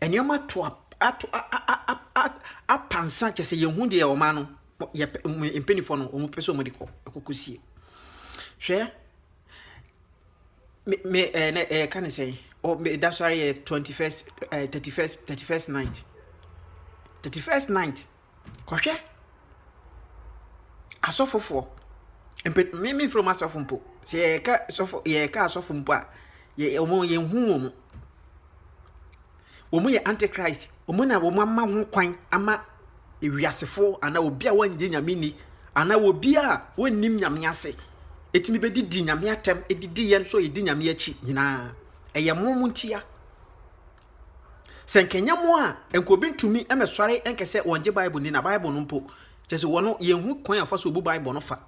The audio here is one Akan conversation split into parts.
Nneɛma ato a ato a a a a apansa kyɛ sɛ yɛhu deɛ wɔn ano yɛpɛ mpanimfoɔ no wɔpɛ sɛ wɔde kɔ ɛkɔkɔsie hwɛ me me ɛɛ na ɛyɛ ka ne sɛn ɔ me da so ara yɛ twenty first ɛɛ thirty first thirty first night thirty first night Kɔhwɛ asɔfofoɔ. Mpe me memfrɛ wɔn asɔfo mpo. Sɛ yɛka sɔfo yɛka asɔfo mpo a, yɛ wɔn yɛnhu wɔn. Wɔn yɛ antichrist. Wɔn na wɔn ama ho kwan ama ewiasefoɔ anaa obi a wɔngye nyame nni anaa obi a wɔnnim nyame ase ɛtumi bɛdidi nyame atɛm ɛdidi yɛn nso yɛdi nyame akyi nyinaa ɛyɛ mo mo ntia Sɛ nka ɛnyɛ mo a, nka obi ntumi mmɛsɔre nka sɛ wɔngye Bible ni na Bible no mpo, kyɛ sɛ wɔn yɛnhu kwan a wɔfa so bu Bible no fa.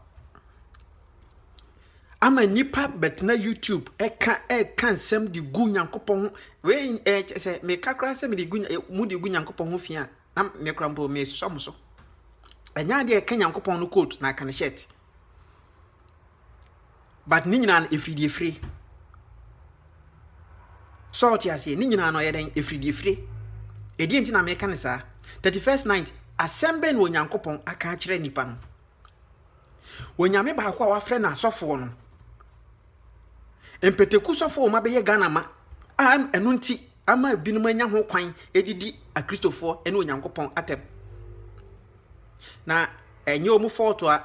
Ama nnipa bɛtena YouTube ɛka ɛka nsɛm de gu Nyankopɔn ho wei ɛɛ kyɛ sɛ meka koraa sɛ mede gu mo de gu Nyankopɔn ho fi a na mekora mpo mesua mo so. Ɛnyɛ adeɛ ɛka Nyankopɔn no coat na aka ne shirt. but ne nyinaa no efiri deɛ efire sɛ ɔte aseɛ ne nyinaa no ɔyɛ dɛn efiri deɛ efire ɛdeɛ nti na mɛka ne saa thirty first night asɛm bɛn na onyankopɔn aka akyerɛ nipa no onyame baako a wafrɛ no asɔfoɔ no mpɛtɛku sɔfoɔ wɔn abɛyɛ ghana ma a ɛno nti ama ebinom anya ho kwan edidi akristofoɔ ɛne onyankopɔn atɛm na ɛnyɛ wɔn fɔɔto a.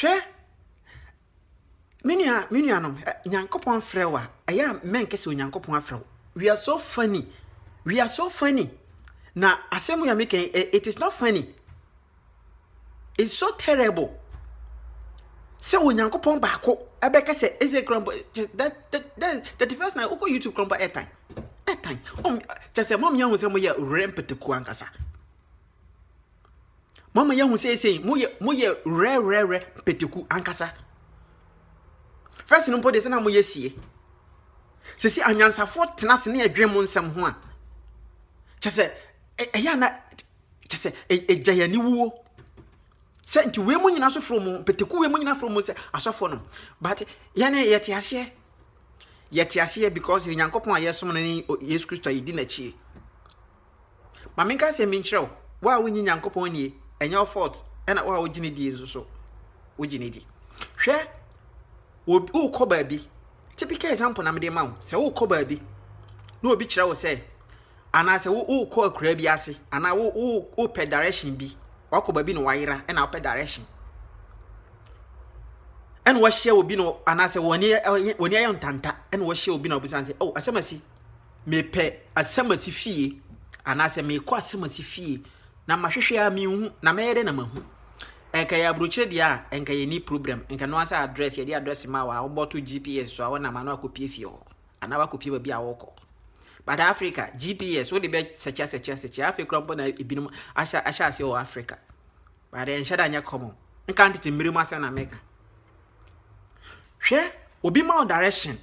Hwɛ, me nua, me nuanom, Nyankopɔn frɛ wo a, ɛyɛ a mɛnkɛ sɛ Onyankopɔn afrɛ wo. We are so funny. We are so funny. Na asɛm yɛ mekɛn, eh, it is not funny. It's so terrible. Sɛ Onyankopɔn baako ɛbɛka sɛ ɛsɛ kura mbɔ that that that thirty first night wokɔ YouTube kura mbɔ ɛtan ɛtan ɔm kyɛ sɛ mɔm yɛn ho sɛ mo yɛ rɛmpɛtɛku ankasa. Moama yɛahu sɛ sei moyɛ moyɛ rɛrɛrɛ peteku ankasa. First no mpo de sɛ na moyɛ sie. Sisi anyansafoɔ tena ase ne ɛdwen mo nsɛm ho a. Kyɛ sɛ ɛyɛ ana kyɛ sɛ ɛgya yɛn aniwuo. Sɛ nti wei mu nyinaa so foro mu peteku wei mu nyinaa foro mu sɛ asɔfoɔ nom. But yɛne yɛte aseɛ. Yɛte aseɛ because Onyankopɔn a yɛsom no ne Yesu Kristo a yɛdi n'akyie. Ma menka asɛm bi nkyerɛ wo, wo a wonnye Nyankopɔn nnie, ɛnyɛ wo fault, ɛna wo a wogye no die nso so, wogye no di. Hwɛ, wokɔ baabi, typical example na mede ma wo, sɛ wokɔ baabi na obi kyerɛ wo sɛ, anaasɛ wokɔ akuraa bi ase, anaa wopɛ direction bi, wakɔ baabi na wayera, ɛna wopɛ direction. ɛna wahyia obi no anaasɛ wɔne ayɛ ntanta ɛna wahyia obi na ɔbisa sɛ oh asɛm asi mepɛ asamasi fie anaasɛ mekɔ asamasi fie na mahwehwɛ a menhu na mɛyɛ dɛ na mahu ɛnka yɛ aburokyerɛ deɛ a ɛnka yɛ ni problem ɛnka no asɛ address yɛde address ma wa wobɔto gps so a wɔnam ano akɔpie fie hɔ anaa wakɔpie baabi a wɔkɔ but africa gps wode bɛ sɛkyɛ sɛkyɛ sɛkyɛ afei kora mpo na ebinom ahyɛ ahyɛ aseɛ wɔ africa But ɛnhyɛ da nyɛ common. Nka ntete mmere mu asɛm na meka. Hwɛ, obi ma wo direction.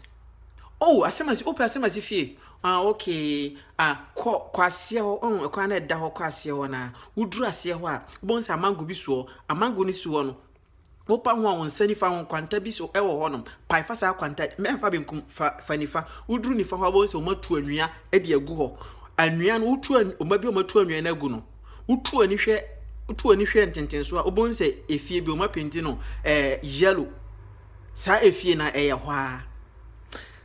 Oh, asɛm asi, wopɛ asɛm asi fie. Ah, okay. Ah, kɔ, kɔ aseɛ hɔ. Oh, ɛkwan na ɛda hɔ kɔ aseɛ hɔ na woduru aseɛ hɔ a, wobɛhu sɛ amango bi soɔ. Amango no si hɔ no, Wopa ho a, wo nsa nifa ho kwanta bi so wɔ hɔnom. Pae fa saa kwanta, mfa benkum, fa fa nifa. Woduru nifa hɔ a, wobɛhu sɛ wɔatu anwea de agu hɔ. Anwea no, wotu wɔn bi a wɔatu anwea no agu no, wotu wɔn ani hwɛ wotu wɔn ani hwɛ ntentenso a, wobɛhu sɛ efie bi wɔapenti no ɛɛ yellow. Saa efie no ɛyɛ hɔ ara.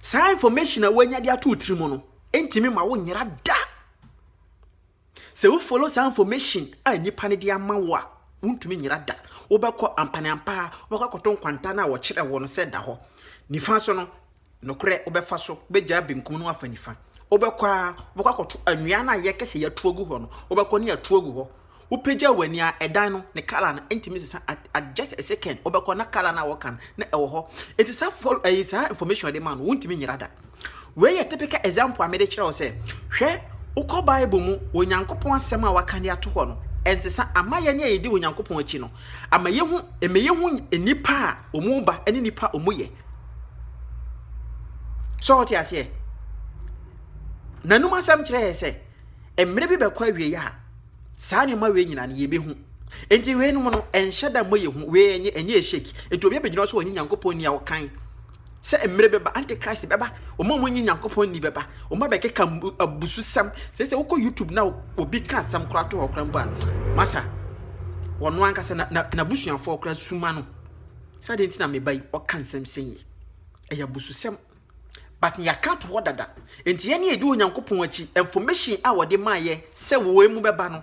Saa information a woanya de ato wo tirim no ntumi ma wonyera da. Sɛ wo follow saa information a nnipa no de ama wo a, wontumi nyera da. Wobɛkɔ ampa ne ampa a, wobɛkɔ akɔto nkwanta no a wɔkyerɛ wo no sɛ da hɔ. Nifa so no, nokorɛ wobɛfa so, wobɛgyaa benkum no afa nifa. Wobɛkɔ a, wobɛkɔ akɔto anwea no a yɛkɛ sɛ yɛatu agu hɔ no, wobɛkɔ ne atu agu hɔ. Wopagyaa w'ani a, ɛdan no, ne colour no, ɛntumi sesa at, at just a second, wobɛkɔ na colour no a wɔka no, na ɛwɔ hɔ. Enti saa follow, ɛyi, saa information a wɔde ma no, wontumi nyera da. Wei yɛ typical example a mede kyerɛ wo sɛ, hwɛ, wokɔ Bible mu, Onyankopɔn asɛm a waka de ato hɔ no, ɛnsesa. Ama yɛn a yɛdi Onyankopɔn akyi no, ama yɛhu, ɛma yɛhu nnipa a wɔba ne nnipa a wɔyɛ. So wote aseɛ? N'anom asɛm kyerɛ yɛ sɛ, mmerɛ bi bɛkɔ awieɛ a, saa nneɛma wei nyinaa no yɛbɛhu. Enti weinom no, ɛnhyɛ da mmɔ yɛ hu, wei ɛnyɛ ɛnyɛ ɛhyɛki. Enti obi abɛgyina so wɔ ne Nyankopɔn ni a ɔkan. sɛ mmerɛ bɛba, antichrist bɛba, wɔn a wɔnyi Nyankopɔn nni bɛba, wɔn abɛkeka abususɛm. Sɛ sɛ wokɔ YouTube na obi ka asɛm koraa to hɔ koraa mpo a, masa wɔn ankasa na n'abusuafoɔ koraa suma no. Sɛ adeɛ nti na meba yi, ɔka nsɛm sɛn yi. Ɛyɛ abususɛm. But yɛaka to hɔ dada. Nti yɛn ne yɛdi Onyankopɔn akyi, information a wɔde maa yɛ sɛ wɔn mu bɛba no,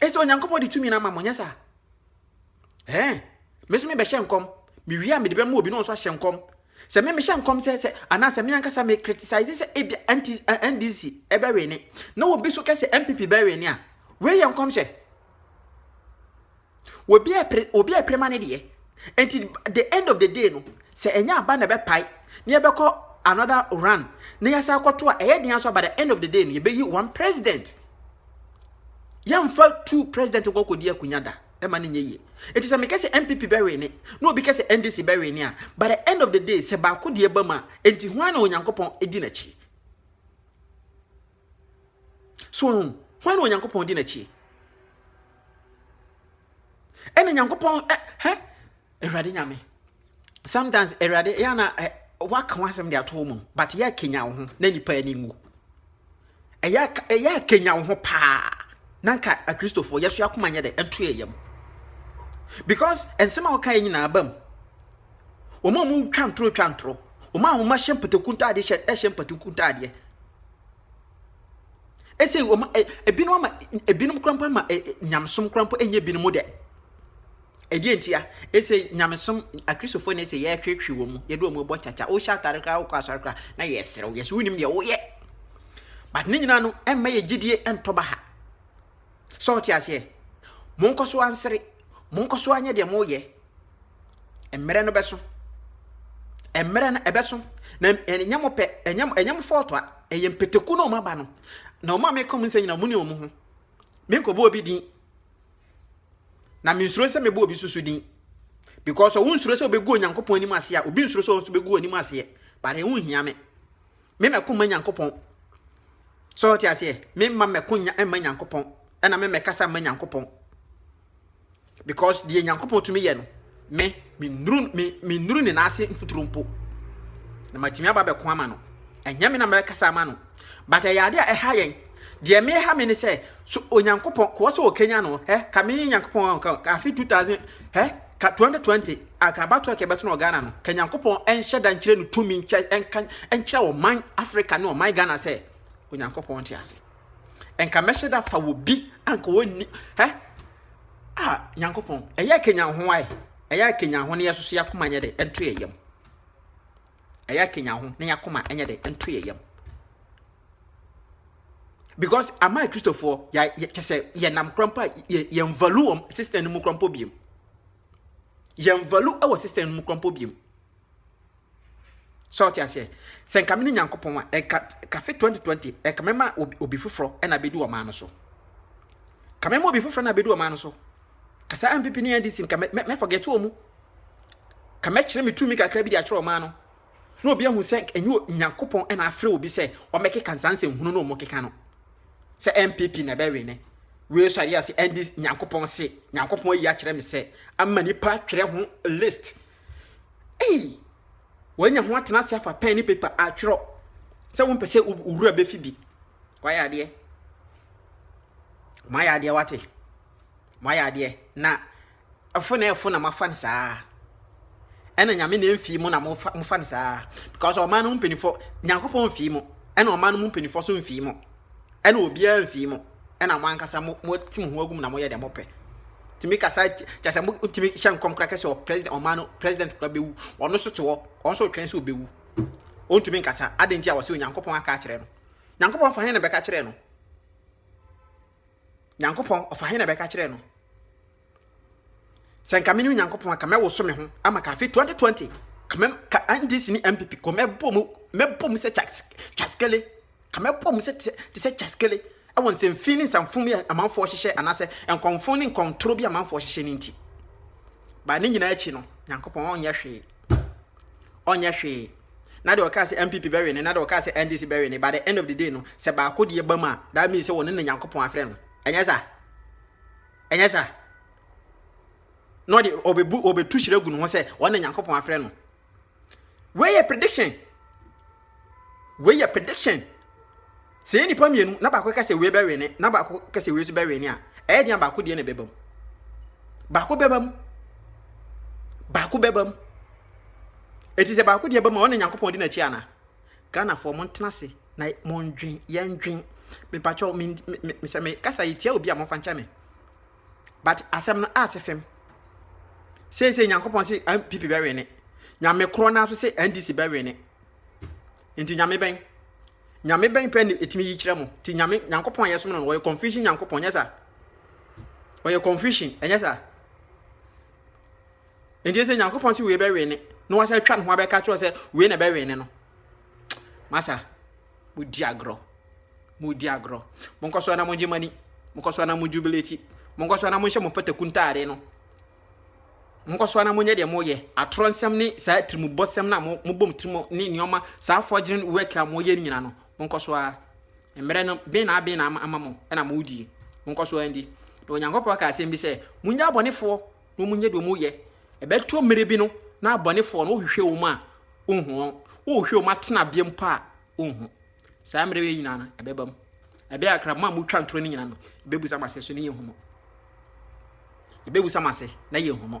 Ɛsɛ Onyankopɔn de tumi no ama mo, nyɛ saa? Ɛɛ, me nso mebɛhyɛ nkɔm, mewie a mede bɛma obi na ɔnso ahyɛ nkɔm. Sɛ me mehyɛ nkɔm sɛ sɛ anaa sɛ me ankasa me criticize sɛ ebi anti NDC ɛbɛwene na obi so kɛ sɛ MPP bɛwene a, wei yɛ nkɔmhyɛ. Obi ɛpere obi ɛpere ma ne deɛ. Enti the end of the day no sɛ ɛnyɛ aba na ɛbɛpae na yɛbɛkɔ another run na yɛsan akɔto a ɛyɛ den aso aba the end of the day no yɛbɛyi one president. Yɛmfa two president nkɔ kɔdi akunya da ɛma ne nyɛ yie. Enti sɛ mekɛ sɛ NPP bɛwe ne na obi kɛ sɛ NDC bɛwe ne a by the end of the day sɛ baako deɛ ba mu a enti hwan na Onyankopɔn di n'akyi? So wahu? Hwan na Onyankopɔn di n'akyi? Ɛna Nyankopɔn ɛ hɛ Awurade Nyame. Sometimes Awurade yɛ na ɛ waka ho asɛm de ato wo mu but yɛ akenya wo ho na nipa ani nwu. Ɛyɛ ɛyɛ akenya wo ho paa na nka akristofoɔ yɛso akoma nyɛ dɛ ɛnto yɛ yam because nsɛm a wɔka yɛ nyinaa bam. wɔn a wɔtwa ntoro twa ntoro, wɔn a wɔahyɛ mpataku ntaadeɛ hyɛ ɛhyɛ mpataku ntaadeɛ. Ɛsɛ wɔn ɛ ebinom ama ebinom korampo ama ɛ nyamesom korampo ɛnyɛ ebinom dɛ. Ɛdeɛ nti a ɛsɛ nyamesom akristofoɔ na ɛsɛ yɛhwehwe wɔn mu yɛde wɔn bɔ kyakya wohyɛ atare koraa wokɔ asɔre koraa na yɛserew yɛsɛ wonim deɛ woyɛ but ne nyinaa no ɛmma yɛ gyidie ɛntɔ ba ha. So wote aseɛ? Monkɔ so ansere. Monkɔ so anyɛ deɛ moyɛ. Mmerɛ no bɛso. Mmerɛ no ɛbɛso. Na ɛnyɛ mo pɛ, ɛnyɛ mo, ɛnyɛ mo fɔɔto a, ɛyɛ mpataku na wɔn aba no. Na wɔn a meka wɔn nsɛm nyinaa, wɔn ne wɔn ho. Menkɔbɔ obi din. Na mensuro sɛ mebɔ obi susu din. Because ɔwo nsuro sɛ wobɛgu Onyankopɔn anim aseɛ a, obi nsuro sɛ ɔno nso bɛgu w'anim aseɛ. But ɛho nhia me. Me mɛko mma Nyankopɔn. So ɔte aseɛ? Me mma mɛko nya mma Nyankopɔn. Ɛna me mɛkasa mma Nyankopɔn. Because deɛ Nyankopɔn tumi yɛ no, me mennuru me mennuru ne n'ase mfuturo mpo. Na matumi aba bɛko ama no. Ɛnyɛ me na mɛkasa ama no. But ɛyɛ adeɛ a ɛha yɛn. Deɛ me ha me ne sɛ, so Onyankopɔn, kɔɔ sɛ ɔkanya no, eh, ka me Nyankopɔn, ka afe 2000, eh, Ka 2020 a ka abatoɔ a ka ɛbɛto no wɔ Ghana no, ka Nyankopɔn nhyɛ da nkyerɛ no tumi nkyɛ nka nkyerɛ ɔman Africa ne ɔman Ghana sɛ Onyankopɔn te ase. Nka mɛhyɛ da fa wɔ bi anka wɔnni hɛ a Nyankopɔn ɛyɛ kenya ho ae ɛyɛ kenya ho ne yɛsoso yɛ akoma nyɛ de ɛnto yɛ yam. a yɛakanyan ho na yɛakoma ɛnyɛ dɛ nto yɛ yam because ama kristofoɔ kyɛ sɛ yɛnam korɔ mpo a yɛn value wɔ system no mu korɔ mpo biom yɛn value wɔ system no mu korɔ mpo biom sɛ ɔte aseɛ sɛ nka me ne nyankopɔn a ɛka kafe 2020 ɛka mɛma obi foforɔ ɛna bɛdi ɔman no so ka mɛma obi foforɔ na bɛdi ɔman no so Kasa MPP ne NDC nka mɛ mɛ forget wɔn mu. Ka mɛkyerɛ me tumi kakra bi de akyerɛ ɔman no. Na obi ahu sɛ ɛnyɛ Nyankopɔn ɛna afrɛ obi sɛ ɔmɛkeka nsanse nhunu no ɔmo keka no. Sɛ MPP na ɛbɛwe ne. Wei so adeɛ ase ND Nyankopɔn se. Nyankopɔn ayi akyerɛ me sɛ ama nipa twerɛ ho list. Ei! Wanya ho atena ase afa pɛn ne paper atwerɛ sɛ wo mpɛ sɛ wura bɛfi bi. Wayɛ adeɛ. Wayɛ adeɛ wate. Moayɛ adeɛ na ɛfo na ɛfo na moafa no saa ɛna nyame na ɛmfii mu na mofa no saa because ɔman no mu mpanimfoɔ nyankopɔn mfii mu ɛna ɔman no mu mpanimfoɔ so mfii mu ɛna obiara mfii mu ɛna mo ankasa mo mo ti mo ho agum na moyɛ deɛ mopɛ tìmí kasa kyɛ sɛ mo tìmí hyɛ nkɔm kora kɛse ɔ president ɔman no president kora bɛwu ɔno so te hɔ ɔno so twɛn sɛ ɔbɛwu ɔntumi nkasa adɛn nti a wɔsɛ onyankopɔn aka akyerɛ no nyankopɔn fa hɛn na bɛka kyerɛ no Nyankopɔn, ɔfa he na bɛka kyerɛɛ no? Sɛ nka mene Onyankopɔn a, ka mɛwoso me ho ama ka afe 2020 ka mɛm ka NDC ne MPP kɔ mɛbɔ mu mɛbɔ mu sɛ kyaskele ka mɛbɔ mu sɛ te sɛ kyaskele ɛwɔ nsɛmfin ne nsɛmfo bi a amanfoɔ hyehyɛ anaasɛ nkɔmfo ne nkɔntoro bi amanfoɔ hyehyɛ ne nti baa ne nyinaa akyi no Nyankopɔn ɔnyɛ hwee ɔnyɛ hwee na deɛ ɔkaa sɛ NPP bɛwe no na deɛ ɔkaa sɛ NDC bɛwe no by the end of the day no sɛ baako deɛ ba mu a that means sɛ wɔne na Nyankopɔn afrɛ no ɛnyɛ sa ɛnyɛ sa na ɔde ɔbɛbu ɔbɛtu hyerɛ gu ne ho sɛ ɔne Nyankopɔn afrɛ no wei yɛ prediction wei yɛ prediction Sɛ ɛyɛ nnipa mmienu na baako ka sɛ wei bɛwene na baako ka sɛ wei nso bɛwene a, ɛyɛ deɛ baako deɛ na ɛbɛba mu. Baako bɛba mu. Baako bɛba mu. Ɛti sɛ baako deɛ bɛma ɔne Nyankopɔn di n'akyi ana? Ghanafoɔ montena ase na mondwen, yɛndwen. Mepakyɛw, me, me, me, sɛ mekasa yi tia obi a momfa nkyɛ me. But asɛm no ase fam. Seesei Nyankopɔn se NPP bɛwene. Nyame korɔ no ara so se NDC bɛwene. Nti Nyame bɛn? Nyame bɛn pɛ ne ɛtumi yi kyerɛ mo? Ti Nyame, Nyankopɔn a yɛsom no no, ɔyɛ confusion Nyankopɔn, nyɛ sa? Ɔyɛ confusion, ɛnyɛ sa? Nti sɛ Nyankopɔn sɛ wei bɛwee ne, na wasɛ atwa ne ho abɛka kyerɛ sɛ wei na ɛbɛwee ne no. Masa, modi agorɔ, modi agorɔ. Monkɔ so na mogye mani, monkɔ so na mo jubilate, monkɔ so na monhyɛ mo pataku ntaade no. Monkɔ so ara na monyɛ deɛ moyɛ. Atorɔ nsɛm ne saa tirimubɔsɛm no a mobɔ mo tirim ne nneɛma saa forgery work a moyɛ no nyinaa no, monkɔ so ara. Mmerɛ no ben na aben na ama mo na modie. Monkɔ so ara ndi. Na Onyankopɔn aka asɛm bi sɛ, monyɛ abɔnefoɔ na monyɛ deɛ moyɛ. Ɛbɛto mmerɛ bi no na abɔnefoɔ no wohwehwɛ wɔn a, wonhu wɔn. Wohwehwɛ wɔn atenabea mpo a, wonhu. Saa mmerɛ wei nyinaa no, ɛbɛba mu. Ɛbɛyɛ akra mo a motwa ntorɔ no nyinaa no, ɛbɛbusa mo ase so ne yɛ nhumu. Ɛbɛbusa mo ase na yɛ nhumu.